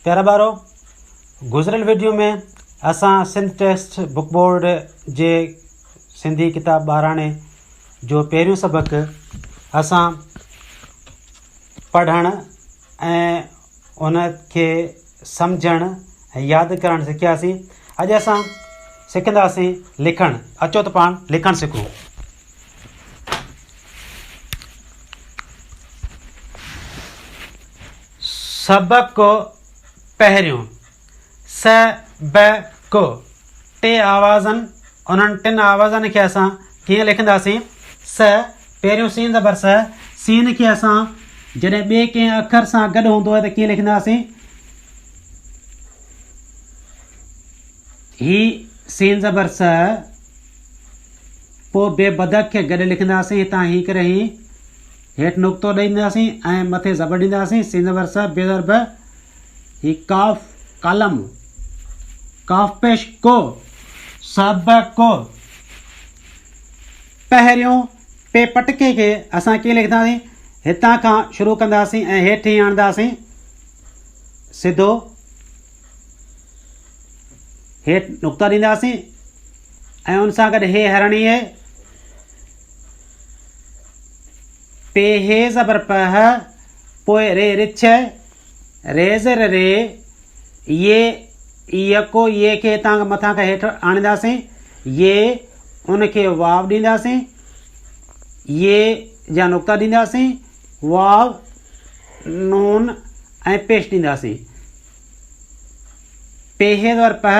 پيارا ٻارو! گذريل وڊيو ۾ اسان سنڌ ٽيسٽ بڪ بورڊ جي سنڌي ڪتاب ٻاراڻي جو پهريون سبق اسان پڙهڻ ۽ ان کي سمجهڻ ۽ ياد ڪرڻ سکياسين. اڄ اسان سکنداسين لکڻ. اچو ته پاڻ لکڻ سکون. سبق پهريون، س، ب، ڪ، ٽي آوازن انهن ٽن آوازن کي اسان ڪيئن لکنداسين؟ س، پهريون سين زبر س، سين کي اسان جڏهن ٻئي ڪنهن اکر سان گڏ هوندو آهي ته ڪيئن لکنداسين؟ هي سين زبر س، پوء بي بدخ کي گڏ لکنداسين هتان هي ڪري هين. هيٺ نقطو ڏئي ڏينداسين ۽ مٿي زبر ڏينداسين، سين زبر س، ب زبر ب، هي قاف قلم، قاف پيش ڪو، س ب ڪو، پهريون پي پٽڪي کي اسان ڪيئن لکنداسين، هتان کان شروع ڪنداسين ۽ هيٺ هيئن آڻنداسين، سڌو هيٺ نقطو ڏينداسين ۽ ان سان گڏ هي هرڻي هي، پي هي زبر په، پوء ري رڇ، ري زر ري، يي يڪو يي کي هتان کان مٿان کان هيٺ آڻينداسين، يي ان کي واو ڏينداسين، يي جا نقطا ڏينداسين، واو، نون ۽ پيش ڏينداسين. پي هي زبر په،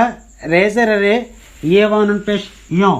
ري زر ري، يي واو نون پيش يون.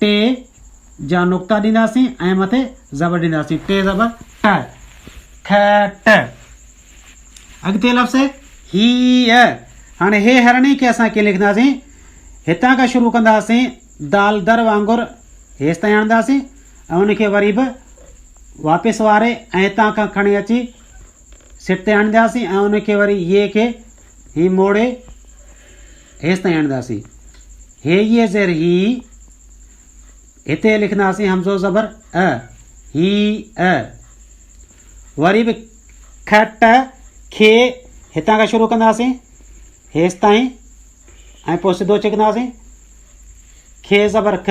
ٽي جا نقطا ڏينداسين ۽ مٿي زبر ڏينداسين ٽي زبر ٽ ٺ ٽ اڳتي لفظ هي ا هاڻي هي هرڻي کي اسان ڪيئن لکنداسين هتان کان شروع ڪنداسين دال در وانگر هيس تائين آڻنداسين ۽ ان کي وري به واپس واري ۽ هتان کان کڻي اچي سٽ تي هڻنداسين ۽ ان کي وري يي کي هين موڙي هيس تائين هڻنداسين. هي يي زير هي هتي لکنداسين همزو زبر ء هي ء وري به که ٽه کي هتان کان شروع ڪنداسين هيس تائين ۽ پوء سڌو ڇڪنداسين کي زبر ک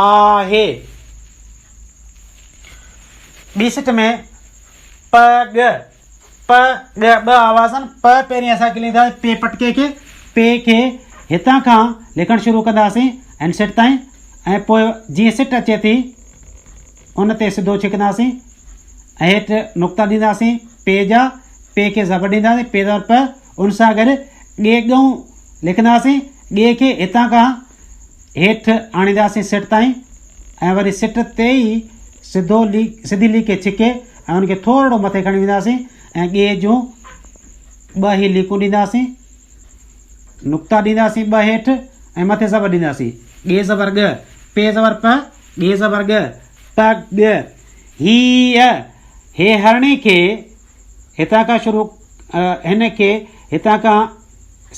آهي. ٻي سٽ ۾ پ ڳ پ ڳ ٻه آواز آهن پ پهرين اسان کي لکنداسين پي پٽڪي کي پي کي هتان کان لکڻ شروع ڪنداسين ان سٽ تائين ۽ پوء جيئن سٽ اچي ٿي ان تي سڌو ڇڪنداسين ۽ هيٺ نقطا ڏينداسين پي جا پي کي زبر ڏينداسين پي زبر پ ان سان گڏ ڳي ڳئون لکنداسين ڳي کي هتان کان هيٺ آڻينداسين سٽ تائين ۽ وري سٽ تي ئي سڌو لي سڌي ليڪي ڇڪي ۽ ان کي ٿورڙو مٿي کڻي وينداسين ۽ ڳيهه جون ٻه هي ليڪون ڏينداسين نقطا ڏينداسين ٻه هيٺ ۽ مٿي زبر ڏينداسين ڳي زبر ڳ پي زبر پ ڳي زبر ڳ پ ڳ هي هي هرڻي کي هتان کان شروع هن کي هتان کان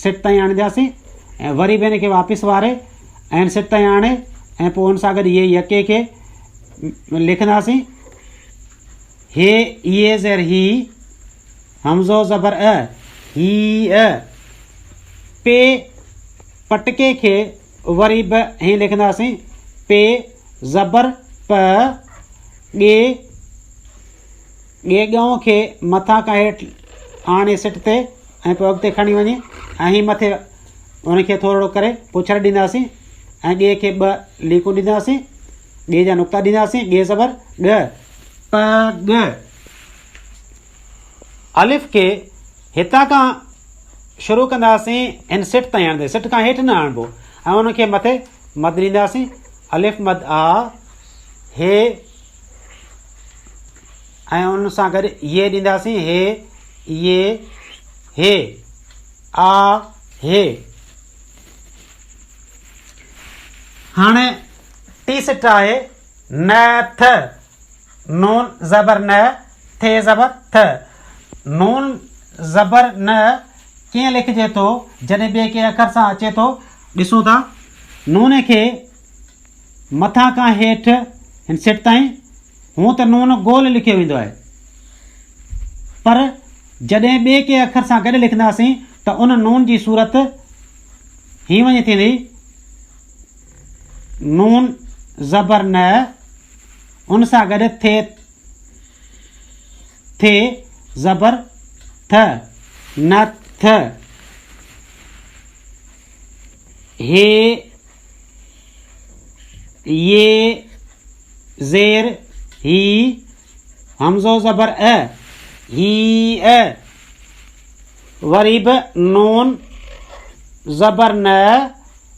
سٽ تائين آڻينداسين ۽ وري به هن کي واپس واري ۽ هن سٽ تائين آڻي ۽ پوء هن سان گڏ هيء يڪي کي لکنداسين هي اي زير هي همزو زبر ا هي ا پي پٽڪي کي وري به هي لکنداسين پي زبر پ ڳي ڳي ڳئون کي مٿان کان هيٺ آڻي سٽ تي ۽ پوء اڳتي کڻي وڃي ۽ هي مٿي ان کي ٿورڙو ڪري پڇر ڏينداسين ۽ ڳي کي ٻه ليڪون ڏينداسين ڳي جا نقطا ڏينداسين ڳي زبر ڳ پ ڳ الف کي هتان کان شروع ڪنداسين ان سٽ تائين آڻندي سٽ کان هيٺ نه آڻبو ۽ ان کي مٿي مد ڏينداسين الف مد آ هي ۽ ان سان گڏ يي ڏينداسين هي، يي، هي، آ، هي. هاڻي ٽي سٽ آهي، ن، ٿ، نون زبر ن، ٿ زبر ٿ. نون زبر ن ڪيئن لکجي ٿو جڏهن ٻئي ڪنهن اکر سان اچي ٿو؟ ڏسون ٿا. نون کي مٿان کان هيٺ هن سٽ تائين هونء ته نون گول لکيو ويندو آهي پر جڏهن ٻئي ڪنهن اکر سان گڏ لکنداسين ته ان نون جي صورت هين وڃي ٿيندي، نون زبر ن، ان سان گڏ ٿي ٿ زبر ٿ، نٿ، هي ي زير هي همزو زبر ا هي ا وري به نون زبر ن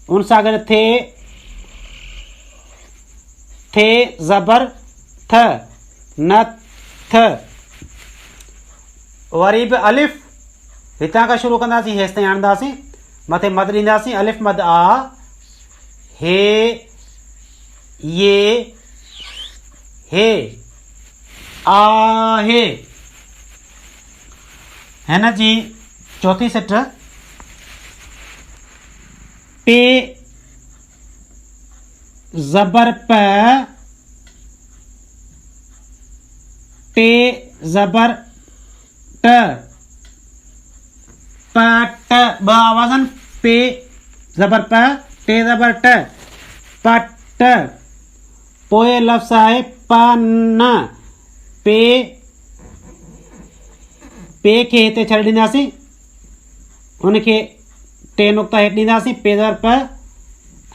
ان سان گڏ ٿي ٿي زبر ٿ ن ٿ وري به الف هتان کان شروع ڪنداسين هيستائين آڻنداسين مٿي مد ڏينداسين الف مد آ هي يه هي آهي هن جي چوٿين سٽ پي زبر پ ٽي زبر ٽ، پ، ٽ، ٻه آواز آهن، پي زبر پ، ٽي زبر ٽ، پٽ. پوء لفظ آهي پ، ن، پي، پي کي هتي ڇڏي ڏينداسين، ان کي ٽي نقطا هيٺ ڏينداسين، پي زبر پ،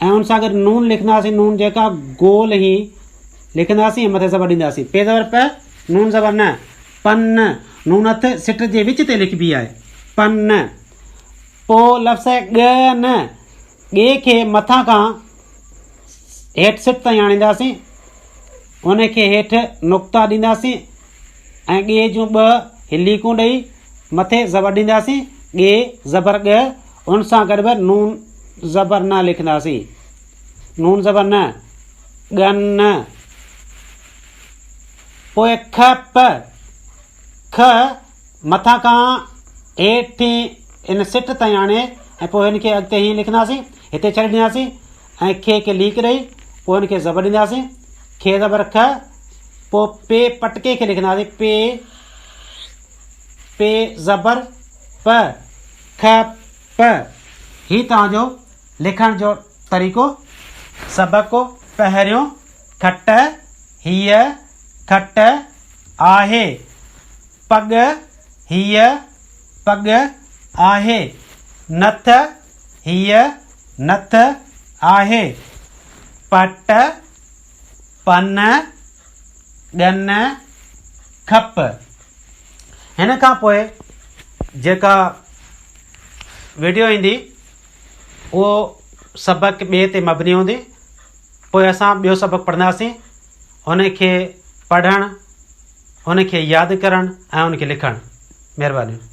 ۽ ان سان گڏ نون لکنداسين، نون جيڪا گول هي لکنداسين ۽ مٿي زبر ڏينداسين، پي زبر پ، نون زبر ن. پن، نون ٿ سٽ جي وچ تي لکبي آهي. پن، پو لفظ ڳ ن ڳي کي مٿان کان هيٺ سٽ تائين آڻينداسين، ان کي هيٺ نقطا ڏينداسين ۽ ڳي جون ٻه ليڪون ڏئي مٿي زبر ڏينداسين، ڳي زبر ڳ، ان سان گڏ به نون زبر ن لکنداسين. نون زبر ن، ڳن. پوء کء پ کء مٿان کان هيٺين ان سٽ تائين آڻي ۽ پوء هن کي اڳتي هيئن لکنداسين، هتي ڇڏي ڏينداسين ۽ کي کي ليڪ ڏئي پوء هن کي زبر ڏينداسين، کء زبر کء، پوء پ پٽڪي کي لکنداسين پ پ زبر پ کء پ. هي توهان جو لکڻ جو طريقو سبق پهريون. کٽ هيء کٽ آهي. پڳ هيء پڳ آهي. نٿ هيء نٿ آهي. پٽ، پن، ڳن، کپ. هن کان پوء جيڪا وڊيو ايندي اهو سبق ٻئي تي مبني هوندي. پوء اسان ٻيو سبق پڙهنداسين. هن کي پڙهڻ، هن کي ياد ڪرڻ ۽ هن کي لکڻ. مهربانيون.